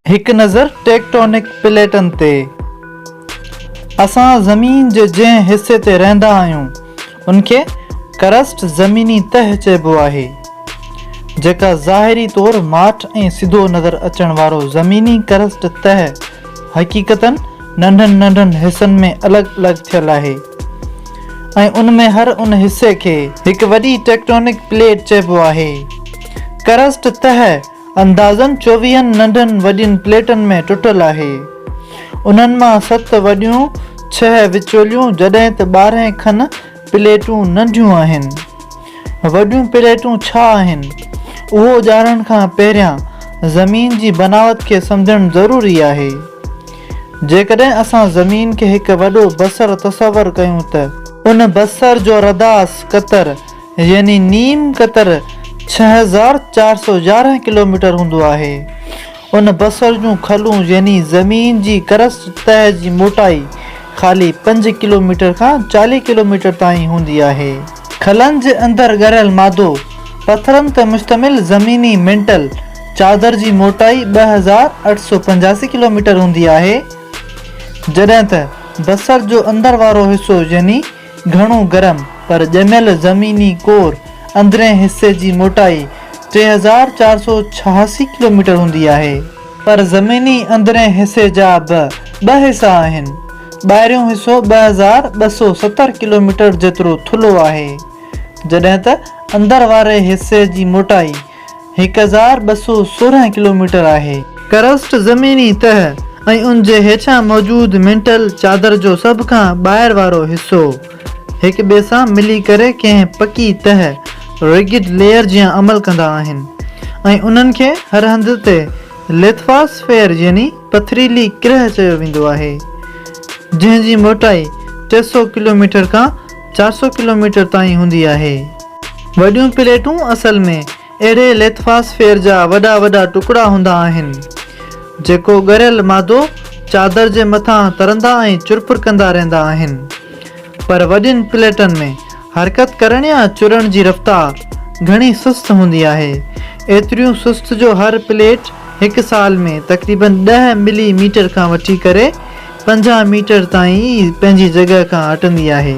هڪ نظر ٽيڪٽونڪ پليٽن تي. اسان زمين جي جنهن حصي تي رهندا آهيون، ان کي ڪرسٽ، زميني تهه، چئبو آهي، جيڪا ظاهري طور ماٺ ۽ سڌو نظر اچڻ وارو زميني ڪرسٽ تهه، حقيقتاً ننڍن ننڍن حصن ۾ الڳ الڳ ٿيل آهي. ۽ ان ۾ هر ان حصي کي هڪ وڏي ٽيڪٽونڪ پليٽ چئبو آهي. ڪرسٽ تهه اندازن چوويهن ننڍن وڏين پليٽن ۾ ٽٽل آهي. انهن مان ست وڏيون، ڇهه وچوليون جڏهن ته ٻارهن کن پليٽون ننڍيون آهن. وڏيون پليٽون ڇا آهن؟ اهو ڄاڻڻ کان پهريان زمين جي بناوت کي سمجهڻ ضروري آهي. جيڪڏهن اسان زمين کي هڪ وڏو بصر تصور ڪيون ته. ان بصر جو رداس قطر يعني نيم قطر ڇهه هزار چار سؤ يارهن ڪلوميٽر هوندو آهي. ان بصر جون کلون يعني زمين جي ڪرسٽ تهه جي موٽائي خالي پنج ڪلوميٽر کان چاليهه ڪلوميٽر تائين هوندي آهي. کلن جي اندر ڳريل مادو پٿرن تي مشتمل زميني مينٽل چادر جي موٽائي ٻه هزار اٺ سؤ پنجاسي ڪلوميٽر هوندي آهي، جڏهن ته بصر جو اندر وارو حصو يعني گهڻو گرم پر ڄميل زميني ڪور اندرئين حصي جي موٽائي ٽي هزار چار سؤ ڇهاسي ڪلوميٽر هوندي آهي. پر زميني اندرئين حصي جا به ٻه حصا آهن، ٻاهريون حصو ٻه هزار ٻه سؤ ستر ڪلوميٽر جيترو ٿلهو آهي، جڏهن ته اندر واري حصي جي موٽائي هڪ هزار ٻه سؤ سورهن ڪلوميٽر آهي. ڪرسٽ زميني تهه ۽ ان جي هيٺيان موجود مينٽل چادر جو سڀ کان ٻاهر وارو حصو هڪ ٻئي سان ملي ڪري ڪنهن پڪي تهه، Rigid Layer، جيان عمل ڪندا آهن ۽ انهن کي هر هنڌ تي ليٿواسفيئر يعني پٿريلي ڪرهه چيو ويندو آهي جنهن جي موٽائي ٽي سؤ ڪلوميٽر کان چار سؤ ڪلوميٽر تائين هوندي آهي. وڏيون پليٽون اصل ۾ اهڙي ليٿفاسفيئر جا وڏا وڏا ٽڪڙا هوندا آهن، جيڪو ڳريل مادو چادر جي مٿان ترندا ۽ چرپر ڪندا رهندا آهن. پر وڏين پليٽن ۾ حرڪت ڪرڻ يا چرڻ جي رفتار گهڻي سست هوندي آهي، ايتريون سست جو هر پليٽ هڪ سال ۾ تقريبن ڏهه ملي ميٽر کان وٺي ڪري پنجاهه ميٽر تائين پنهنجي جڳهه کان هٽندي آهي.